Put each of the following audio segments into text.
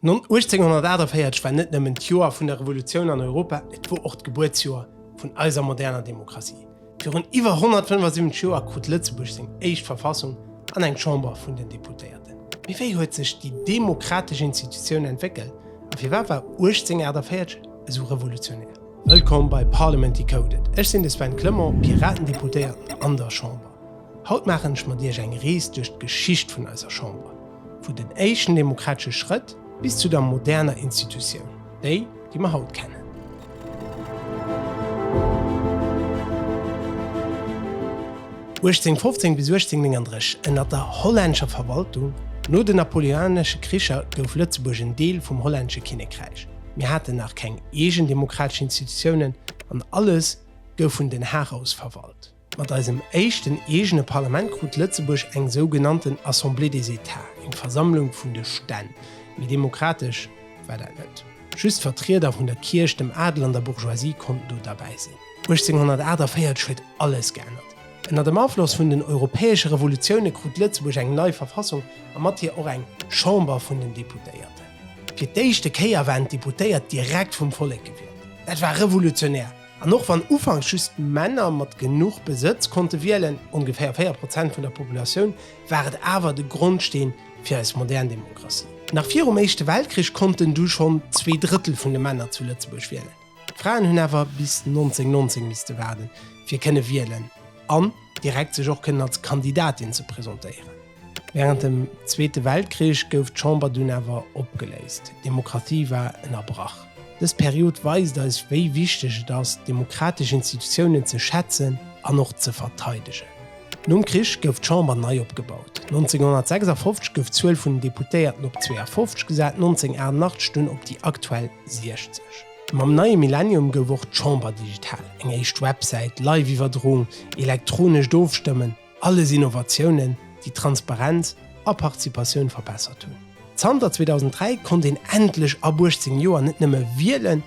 1848 war net nëmmen d'Joer vun der Revolutioun an Europa, et wor och d'Gebuertsjoer vun eiser moderner Demokratie. Virun iwwer 175 Joer krut Lëtzebuerg seng éischt Verfassung an eng Chamber vun den Deputéierten. Mee wéi huet sech déi demokratesch Institutioun entwéckelt a firwat war 1848 esou revolutionär? Wëllkomm bei Parliament Decoded, ech sinn de Sven Clement, Piraten-Deputéierten an der Chamber. Haut maachen ech mat Iech eng Rees duerch d'Geschicht vun eiser Chamber, vu den éischten demokratesche Schrëtt bis zu der moderner Institutioun, déi, déi mer haut kennen. Vu 1815 bis 1839 ënnert der hollänscher Verwaltung. No de napoleonesche Kricher gouf Lëtzebuerg en Deel vum hollännesche Kinnekräich. Mir haten nach keng eegen demokratesch Institutiounen an alles gouf vun Den Haag aus verwalt. Mat eisem éischten eegene Parlament krut Lëtzebuerg eng sougenannten Assemblée des États, eng Versammlung vun de Stänn. Méi demokratesch war dat net. Just d'Vertrieder vun der Kierch, dem Adel an der Bourgeoisie konnten do derbäi sinn. 1848 huet alles geännert. Ënner dem Afloss vun den europäesche Revolutioune krut Lëtzebuerg eng nei Verfassung a mat hir och eng Chamber vun den Deputéierten. Fir d'éischte Kéier waren d'Deputéiert direkt vum Vollek gewielt. Dat war revolutionär! An och wann ufanks just Männer mat genuch Besëtz konnte wielen, ongeféier 4 Prozent vun der Populatioun, war et awer de Grondsteen fir eis modern Demokratie. Nach virum Éischte Weltkrich konnten du schonn zwee Drëttel vun de Männer zu Lëtzebuerg wielen. D'Fraen hunn awer bis 1919 misste waarden, fir kënne wielen an direkt sech och kënnen als Kandidatin ze presentéieren. Wärend dem Zweete Weltkrich gouf d'Chamber dunn awer opgeléist. D'Demokratie war ënnerbrach. Dës Period weist eis wéi wichteg et ass, d'demokratesch Institutiounen ze schätzen an och ze verteidegen. Nom Krich gouf d'Chamber nei opgebaut. 1956 gouf d'Zuel vun den Deputéierten op 52 gesat, 1988 dunn op déi aktuell 60. Mam neie Millennium gouf och d'Chamber digital, eng éischt Websäit, Live-Iwwerdroung, elektronescht Ofstëmmen, Alles Innovatiounen, déi d'Transparenz a Participatioun verbessert hunn. Zanter 2003 konnt een endlech ab 18 Joer net nëmme wielen,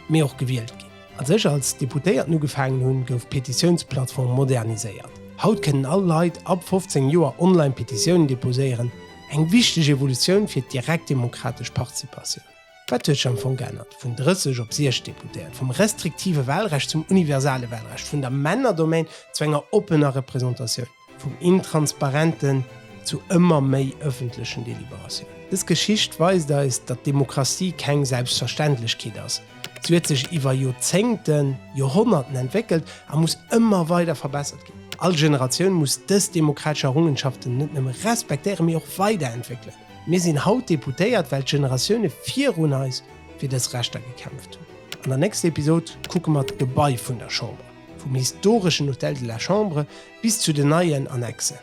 mee och gewielt ginn. Als ech als Deputéierten ugefaangen hunn, gouf d'Petitiounsplattform moderniséiert. Haut kënnen all Leit ab 15 Joer online Petitiounen deposéieren, eng wichteg Evolutioun fir d'direkt demokratesch Participatioun. Wat huet sech am Fong geännert? Vun 30 op 6 Deputéiert, vum restriktive Wahlrecht zum universale Wahlrecht, vun der Männerdomaine zu enger oppener Representatioun, vum intransparenten zu ëmmer méi ëffentlechen Deliberatiounen. Dës Geschicht weist eis, datt Demokratie keng Selbstverständlechkeet ass. Si huet sech iwwer Joerzéngten, Joerhonnerten entwéckelt a muss ëmmer weider verbessert ginn. All Generatioun muss dës demokratesch Errungenschaften net nëmme respektéieren, mee och weiderentwéckelen. Mir sinn haut Deputéiert, well d'Generatioune virun eis fir dës Rechter gekämpft hunn. An der nächster Episod kucke mer d'Gebai vun der Chamber, vum historeschen Hôtel de la Chambre bis zu den neien Annexen.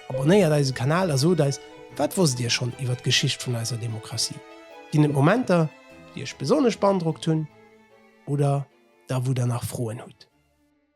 Abonnéiert eise Kanal a sot eis, wat wosst Dir schonn iwwer d'Geschicht vun eiser Demokratie? Ginn et Momenter, déi Iech besonnesch beandrockt hunn oder der wou Der nach Froen hutt?